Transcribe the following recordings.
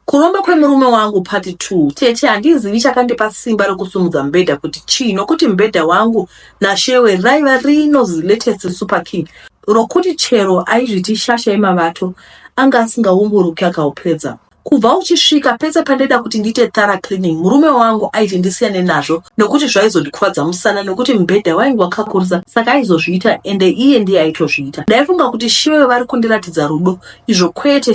Kuromba kwemurume wangu part 2 Tete handizivi chakandipa simba rekusumudza mubhedha kuti chii nokuti mubhedha wangu naShewe raiva rino zilatest super king rokuti chero aizviti shasha yemavato anga asingaumburuki akaupedza. Kubva uchisvika pese pandaida kuti ndiite thorough cleaning murume wangu aiti ndisiyane nazvo nokuti zvaizondikuvadza musana nokuti mubhedha wainge wakakurisa saka aizozviita ende iye ndiye aitozviita. Ndaifunga kuti Shewe vari kundiratidza rudo izvo kwete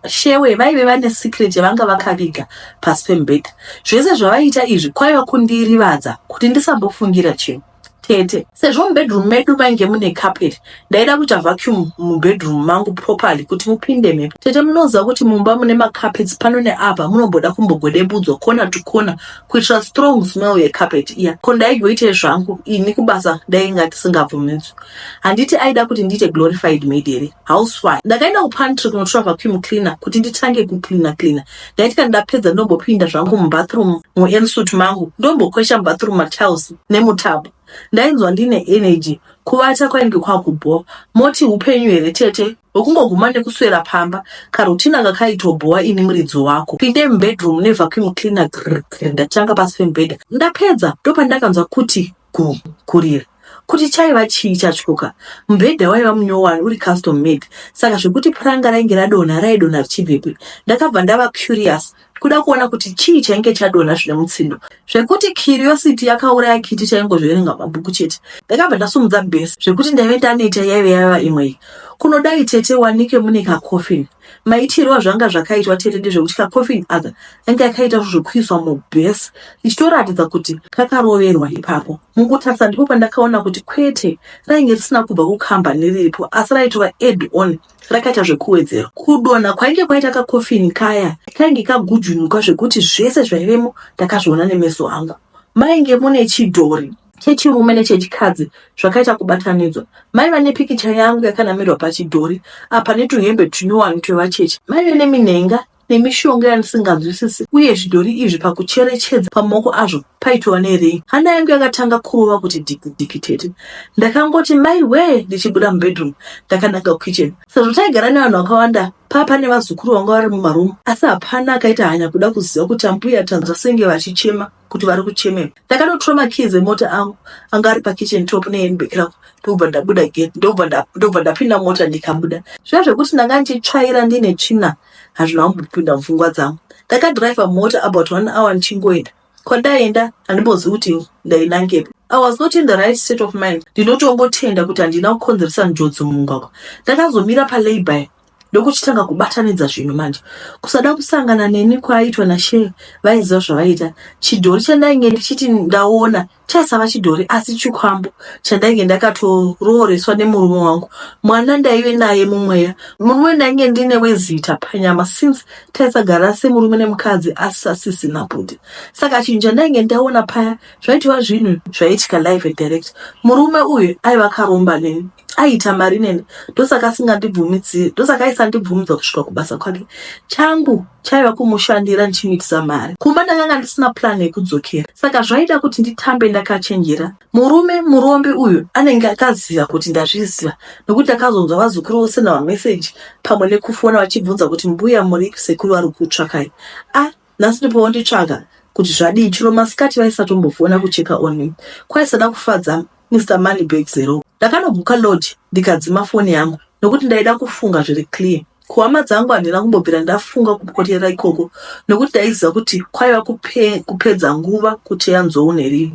shewe vaive vane secret yavanga vakaviga pasi pemubhedha zvese zvavaiita izvi kwaiva kundirivadza kuti ndisambofungira chinhu tete sezvo mubedroom medu mainge mune carpet ndaida kuita vacuum mubedroom mangu properly kuti mupinde mhepo tete munoziva kuti mumba mune macarpets pano neapa munomboda kumbogodebudzwa kona to kona kuitira strong smell yecarpet iya ko ndaigoite zvangu ini kubasa ndainga tisingabvumidzwi handiti aida kuti ndiite glorified maid here housewife ndakaenda kupantry kunotora vacuum cleaner kuti nditange kucleana cleana ndaiti kana ndapedza ndombopinda zvangu mubathroom muensut mangu ndombokwesha mubathroom matiles nemutabo ndainzwa ndine energy kuvata kwainge kwakubhowa moti upenyu here tete wekungoguma nekuswera pamba karutina kakaitobhowa ini muridzi wako pinde mubedroom nevacuum cleaner grr ndatanga pasi pemubhedha ndapedza ndopandakanzwa kuti Ku, kurira. Kuti chaiva chii chatyoka? Mubhedha waiva munyowani uri custom made saka zvekuti puranga rainge radonha raidonha richibvepi? Ndakabva ndava curious kuda kuona kuti chii chainge chadonha zvine mutsindo zvekuti curiosity yakauraya kiti chaingozverenga mabhuku chete. Ndakabva ndasumudza base zvekuti ndaive ndaneta yaive yava imwe iyi. Kunodai tete wanike mune kacoffin. Maitirwo azvanga zvakaitwa tete ndezvekuti kacoffin aka ange akaita zvekuiswa mubes ichitoratidza kuti kakaroverwa ipapo mukutarisa ndipo pandakaona kuti kwete rainge risina kubva kukambani riripo asi raitova add on rakaita zvekuwedzerwa kudonha kwainge kwaita kacoffin kaya kainge kagujunuka zvekuti zvese zvaivemo ndakazviona nemeso angu mainge mune chidhori chechirume nechechikadzi zvakaita kubatanidzwa. Maiva nepikicha yangu yakanamirwa pachidhori apa netuhembe tunyowani twevacheche. Maive neminhenga nemishonga yandisinganzwisisi uye zvidhori izvi pakucherechedza pamaoko azvo paitova nerei. Hana yangu yakatanga kurova kuti dikidiki tete. Ndakangoti mai wee ndichibuda mubedroom ndakananga kukitchen. Sezvo taigara nevanhu vakawanda paa pane vazukuru vanga vari mumaroom asi hapana akaita hanya kuda kuziva kuti ambuya tanzwa senge vachichema. kuti vari kuchemei ndakatotora makeys emota angu anga ari pakitchen top nehandbag rangu ndokubva ndabuda gate ndokubva ndapinda mota ndikabuda zviya zvekuti ndanga ndichitsvaira ndine tsvina hazvina kumbopinda mupfungwa dzangu ndakadriver mota about one hour ndichingoenda kwandaenda handimbozivi kuti ndainangepi i was not in the right state of mind ndinotongotenda kuti handina kukonzeresa njodzi mumugwagwa ndakazomira palabour ndokuchitanga kubatanidza zvinhu manje kusada kusangana neni kwaaitwa nashee vaiziva zvavaita chidhori chandainge ndichiti ndaona chaisava chidhori asi chikwambo chandainge ndakatorooreswa nemurume wangu mwana ndaive naye mumweya murume wendainge ndine wezita panyama since taisagara semurume nemukadzi asi asisina bhudhi saka chinhu chandainge ndaona paya Zvaitova zvinhu zvaiitika live and direct. Murume uyu aiva akaromba neni, aiita mari neni, ndosaka asingandibvumidziri, ndosaka aisandibvumidza kusvika kubasa kwake. Changu chaiva kumushandira ndichimuitisa mari. Kumba ndakanga ndisina plan yekudzokera, saka zvaida kuti nditambe ndakachenjera. Murume murombe uyu anenge akaziva kuti ndazviziva, nokuti akazonzwa vazukuru vose navameseji pamwe nekufona vachibvunza kuti mbuya muripi, sekuru vari kukutsvakai. Ah, Nhasi ndipo wonditsvaga kuti zvadii chero masikati vaisatombofona kucheka on me kwaisada kufadza Mister Money Bag Zero. Ndakanobuka lodge ndikadzima foni yangu nokuti ndaida kufunga zviri clear. Kuhama dzangu handina kumbobvira ndafunga kupoterera ikoko nokuti ndaiziva kuti kwaiva kupe, kupedza nguva kuteya nzou nerivi.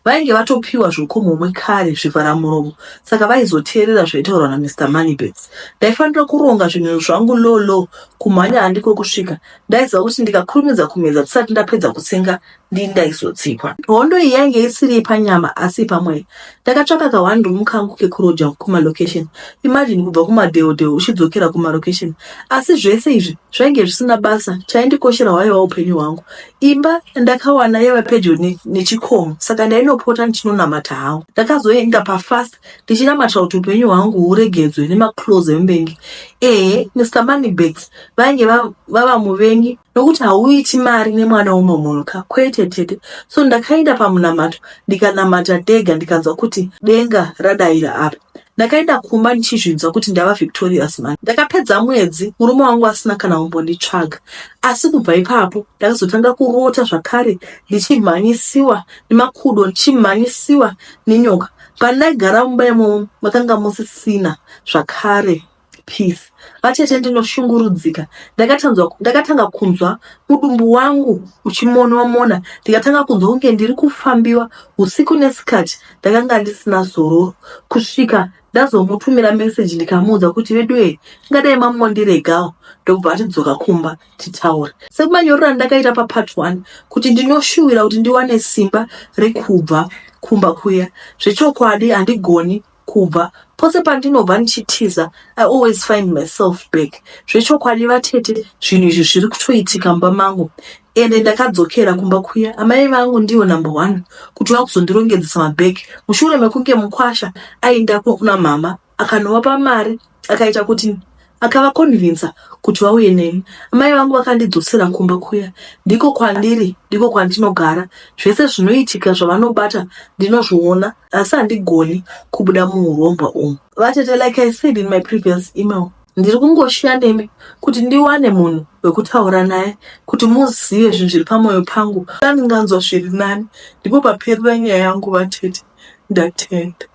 Vainge vatopiwa zvokumhomwe kare zvivhara muromo saka vaizoteerera zvaitaurwa naMr Moneybags. Ndaifanira kuronga zvinhu zvangu low low kumhanya handiko kusvika Ndaiziva kuti ndikakurumidza kumedza ndisati ndapedza kutsenga ndii ndaizotsikwa. Hondo iyi yainge isiri yepanyama asi pamweya. Ndakatsvaka ka one room kangu kekuroja kumalocation. Imagine kubva kumadheodheo uchidzokera kumalocation. Asi zvese izvi zvainge zvisina basa, chaindikoshera hwaiva upenyu hwangu. Imba yandakawana yaiva pedyo nechikomo saka ndainopota ndichinonamata hangu. Ndakazoenda pafast ndichinamatira kuti upenyu hwangu huregedzwe nemaclose emuvengi ehe mr moneybags vainge vava muvengi nokuti hauiti mari nemwana umwe munhu ka kwete tete so ndakaenda pamunamato ndikanamata dega ndikanzwa kuti denga radaira apa ndakaenda kumba ndichizvinzwa kuti ndava victorious man ndakapedza mwedzi murume wangu asina kana umbonditsvaga asi kubva ipapo ndakazotanga kurota zvakare ndichimhanyisiwa nemakudo ndichimhanyisiwa nenyoka Pandaigara mumba imomo makanga musisina zvakare peace. Vatete ndinoshungurudzika. Ndakatanzwa ndakatanga kunzwa mudumbu wangu uchimonwa mona ndikatanga kunzwa kunge ndiri kufambiwa usiku nesikati ndakanga ndisina zororo kusvika ndazomutumira message ndikamuudza kuti veduwee ngadai mamondiregawo ndobva atidzoka kumba. titaure semanyorero andakaita papart one kuti ndinoshuwira kuti ndiwane simba rekubva kumba kuya zvechokwadi handigoni kubva pose pandinobva ndichitiza i always find myself back zvechokwadi vatete zvinhu izvi zviri kutoitika mumba mangu ende ndakadzokera kumba kuya amai vangu ndivo number one kuti vakuzondirongedzesa mabheki mushure mekunge mukwasha aindako kuna mhama akanovapa mari akaita kuti akavakonvinsa kuti vauye neni amai vangu vakandidzosera kumba kuya ndiko kwandiri ndiko kwandinogara zvese zvinoitika zvavanobata ndinozviona asi handigoni kubuda muurombwa umu vatete like i said in my previous email ndiri kungoshiya nemi kuti ndiwane munhu wekutaura naye kuti muzive zvinhu zviri pamwoyo pangu andinganzwa zviri nani ndipo paperera nyaya yangu vatete ndatenda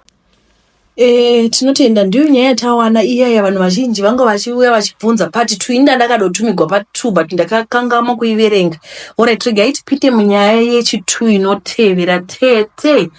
Eh, tinotenda ndiyo nyaya yatawana iya ya vanhu vazhinji vanga vachiuya vachibvunza part 2 ini ndandakadotumigwa part 2 but ndakakangamwa kuiverenga orit regai tipite munyaya yechi 2 inotevera tete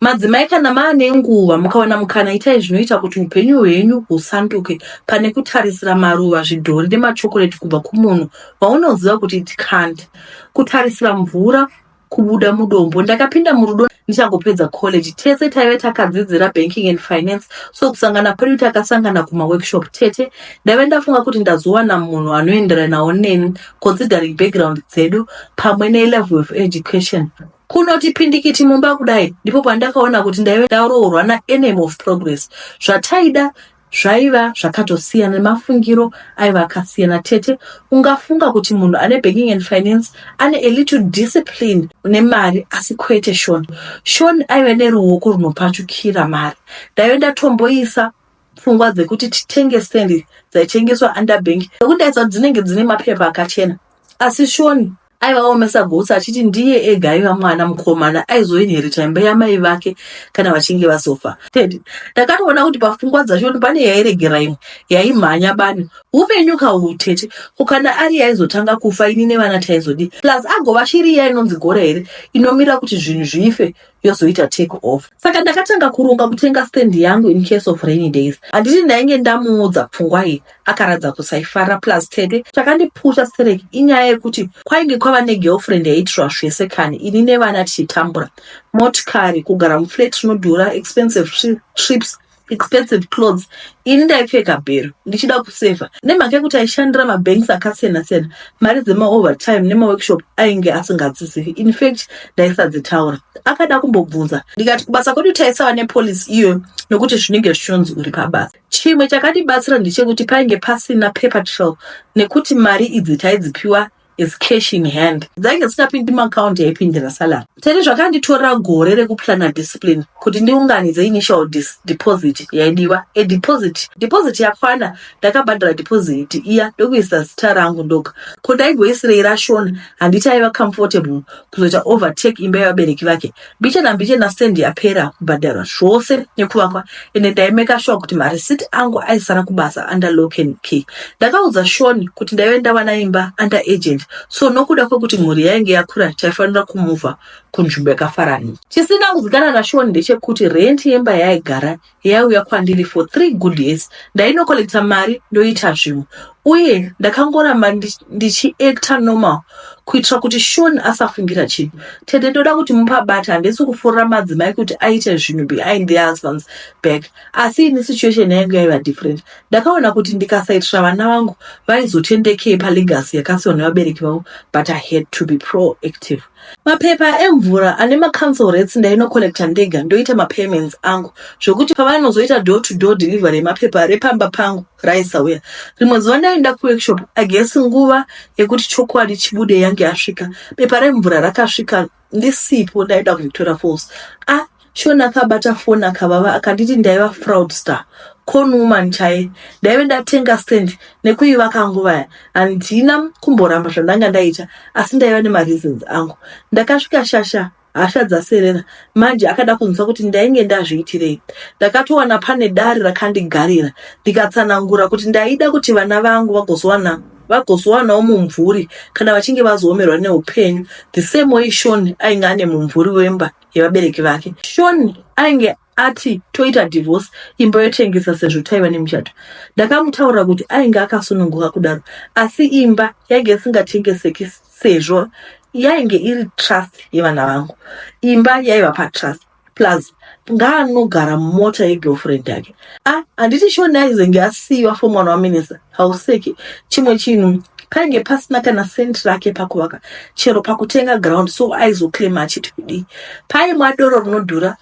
madzimai kana maane nguva mukawana mukana itai zvinoita kuti upenyu hwenyu husanduke pane kutarisira maruva zvidhori nemachokoreti kubva kumunhu waunoziva kuti it can't kutarisira mvura kubuda mudombo ndakapinda murudo ndichangopedza college tese taive takadzidzira banking and finance so kusangana kwedu takasangana kumaworkshop tete ndaive ndafunga kuti ndazowana munhu anoenderanawo neni considering background dzedu pamwe nelevel of education kunoti pindikiti mumba kudai ndipo pandakaona kuti ndaive ndaroorwa naenem of progress zvataida Zvaiva zvakatosiyana nemafungiro aiva akasiyana. Tete ungafunga kuti munhu ane banking and finance ane a little discipline une mari asi kwete Sean. Sean aive neruoko runopachukira mari. Ndaive ndatomboisa pfungwa dzekuti titenge stand dzaitengeswa underbank nekuti ndaisa dzinenge dzine mapepa akachena asi Sean aiva omesa gotsi achiti ndiye ega aiva mwana mukomana aizoinherita imba yamai vake kana vachinge vazofa ted ndakatoona kuti pafungwa dzashoni pane yairegera imwe yaimhanya bani upenyu kauu tete ko kana ari yaizotanga kufa ini nevana taizodii plus agova shiri iya inonzi gora here inomira kuti zvinhu zvife yozoita take off saka ndakatanga kuronga kutenga stand yangu in case of rainy days handiti ndainge ndamuudza pfungwa iyi akaradza kusaifara plus tete chakandipusha sterek inyaya yekuti kwainge kwava negirlfriend yaitirwa zvese kani ini nevana tichitambura motikari kugara muflat rinodhura expensive trips expensive clothes ini ndaipfeka bhero ndichida kusevha nemhaka yekuti aishandira mabanks akasiyana siyana mari dzemaovertime nemaworkshop ainge asingadzizivi infact ndaisadzitaura akada kumbobvunza ndikati kubasa kwedu taisava nepolicy iyoyo nokuti zvinenge zvichonzi uri pabasa chimwe chakatibatsira ndechekuti painge pasina paper trail nekuti mari idzi taidzipiwa is cash in hand dzainge dzisingapindi muaccount yaipindira salary tete zvakanditorera gore rekuplana discipline kuti ndiunganidze initial dis, deposit yaidiwa a deposit deposit yakwana ndakabhadhara deposit iya ndokuisa zita rangu ndoga ko ndaigoisirei rashona handiti aiva comfortable kuzoita overtake imba yevabereki vake Biche nambiche nastand yapera kubhadharwa zvose nekuvakwa ende ndaimeka shuwa kuti marisiti angu aisara kubasa under lock and key. Ndakaudza Shoni kuti ndaive ndawana imba under agent so nokuda kwekuti mhuri yainge yakura taifanira kumuvha kunzvimbo yakafarana. Chisina kuzikana naShoni ndechekuti rent yemba yaaigara yaiuya kwandiri for three good years ndainokolecta mari ndoita zvimwe uye ndakangoramba ndichiacta normal kuitira kuti shon asafungira chinhu tete ndoda kuti mupabata handisi kufurira madzimai kuti aite zvinhu behind the husbands back asi ini situation yainge yaiva different ndakaona kuti ndikasaitira vana vangu vaizotendekei palegacy yakasiwa nevabereki vavo but i had to be proactive Mapepa emvura ane macouncil rates ndainocollecta ndega ndoita mapayments angu zvokuti pavanozoita door to door delivery yemapepa repamba pangu raisauya. Rimwe zuva ndaienda kuworkshop I guess nguva yekuti chokwadi chibude yange yasvika. Bepa remvura rakasvika ndisipo ndaenda kuVictoria Falls. Ah, Shona akabata foni akavava akanditi ndaiva fraudster con woman chaye ndaive ndatenga stand nekuivaka nguva ya handina kumboramba zvandanga ndaita asi ndaiva nemareasons angu ndakasvika shasha hasha dzaserera manje akada kunzwa kuti ndainge ndazviitirei ndakatowana pane dare rakandigarira ndikatsanangura kuti ndaida kuti vana vangu vagozowana vagozowanawo mumvuri kana vachinge vazoomerwa neupenyu the same way shon ainge ane mumvuri wemba yevabereki vake shoni ainge ati toita divorce imba yotengesa sezvo taiva nemuchato ndakamutaurira kuti ainge akasununguka kudaro asi imba yainge isingatengeseki sezvo yainge iri trust yevana vangu imba yaiva patrust plus ngaanogara mumota yegirlfriend yake ah handiti shoni aizenge asiyiwa for mwana waminisa hauseki chimwe chinhu painge pasina kana sent rake pakuvaka chero pakutenga ground so aizoclaima achiti kudii paimwa doro rinodhura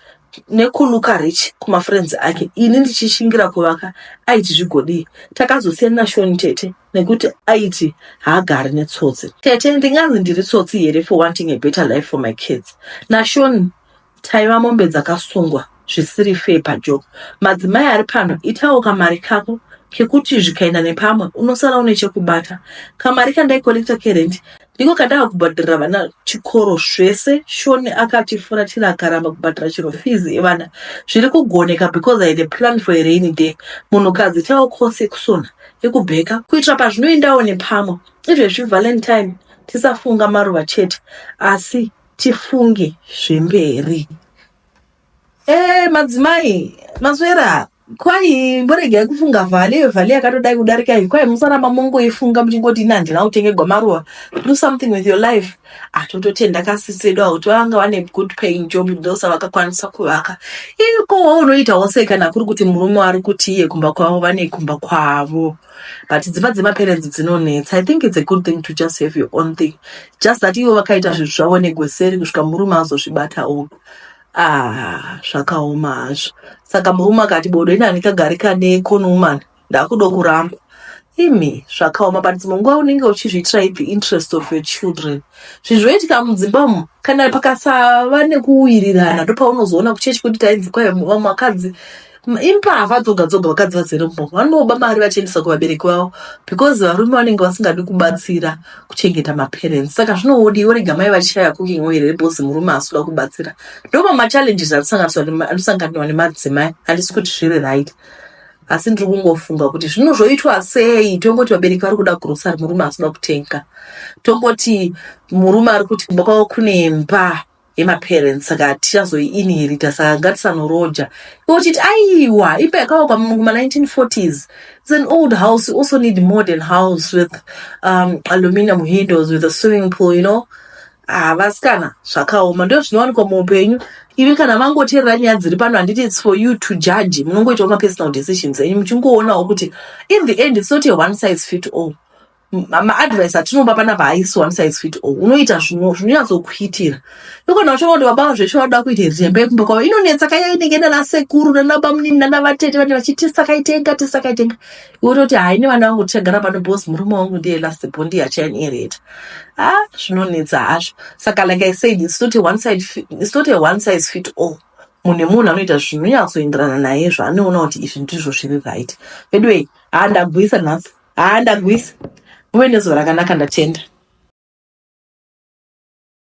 nekuluka rich kumafriends ake ini ndichishingira kuvaka aiti zvigodii takazosiyana nashoni tete nekuti aiti haagari netsotsi tete ndinganzi ndiri tsotsi here for wanting a better life for my kids nashoni Taiva mombe dzakasungwa zvisiri fair pajo. Madzimai ari pano itawo kamari kako kekuti zvikaenda nepamwe unosara une chekubata. Kamari kandaikolekta kerent ndiko kandava kubhadharira vana chikoro zvese. Shoni akatifuratira akaramba kubhadhara chero fees evana. Zviri kugoneka because I had a plan for a rainy day. Munhukadzi itawo course yekusona, yekubheka kuitira pazvinoendawo nepamwe. Izvezvi valentine tisafunga maruva chete asi tifunge zvemberi eh madzimai maswera kwai mboregai kufunga vhale iyo vhale yakatodai kudarika iyi kwai musaramba mongoifunga muchingoti ini handina kutenge gwamaruva do something with your life atototenda kasisi vedu avo kuti vanga vane good paying job ndosa vakakwanisa kuvaka iko waunoitawo sei kana kuri kuti murume ari kuti iye kumba kwavo vane kumba kwavo but dzimba dzemaparents dzinonetsa i think its a good thing to just have your own thing just that ivo vakaita zvinhu zvavo negweseri kusvika murume azozvibata oga ah zvakaoma hazvo saka murume akati bodo ini handikagari kane conwoman ndakudo kuramba imi zvakaoma but dzimwe nguva unenge uchizviitira the interest of your children zvinhu zvoitika mudzimba umu kana pakasava nekuwirirana ndopaunozoona kuchechi kuti tainzi kwai vakadzi Impavha dzoga dzoga vakadzi vazere mumomo vanoba mari vachiendesa kuvabereki vavo because varume vanenge vasingadi kubatsira kuchengeta maparents saka zvinowodi yorega mai vachishaya cooking oil here because murume asikuda kubatsira ndoma machallenges anosanganiwa nemadzimai handisi kuti zviri right asi ndiri kungofunga kuti zvino zvoitwa sei tongoti vabereki vari kuda grocery murume asikuda kutenga tongoti murume ari kuti kumba kwavo kune mba yemaparents saka hatichazoiinhirita saka ngatisanoroja iwe uchiti aiwa imba yakavakwa muma 1940s its an old house you also need modern house with um, aluminium windows with a swimming pool you know havasikana ah, zvakaoma ndo zvinowanikwa muupenyu ivi kana vangoteerera nyaya dziri pano handiti its for you to judge munongoitawo mapersonal decisions enyu muchingoonawo kuti in the end its not a one size fit all maadvice atinoba panapa haisi one size fit all unoita zvinonyatsokuitira nokana uchiona kuti baba zveshe vanoda kuita zviremba yekumba kwavo inonetsa kaya inenge nana sekuru nana bamunini nana vatete vanenge vachiti tisakaitenga tisakaitenga iwototi hai nevana vangu tichagara pano bcause murume wangu ndiye last bo ndiye achainhereta a ah, zvinonetsa hazvo saka like i said it's not a one side it's not a one size fit all munhu nemunhu anoita zvinonyatsoenderana naye zvaanoona kuti izvi ndizvo zviri right veduwei handagwisa nhasi haa ndagwisa muve nezuva rakanaka ndatenda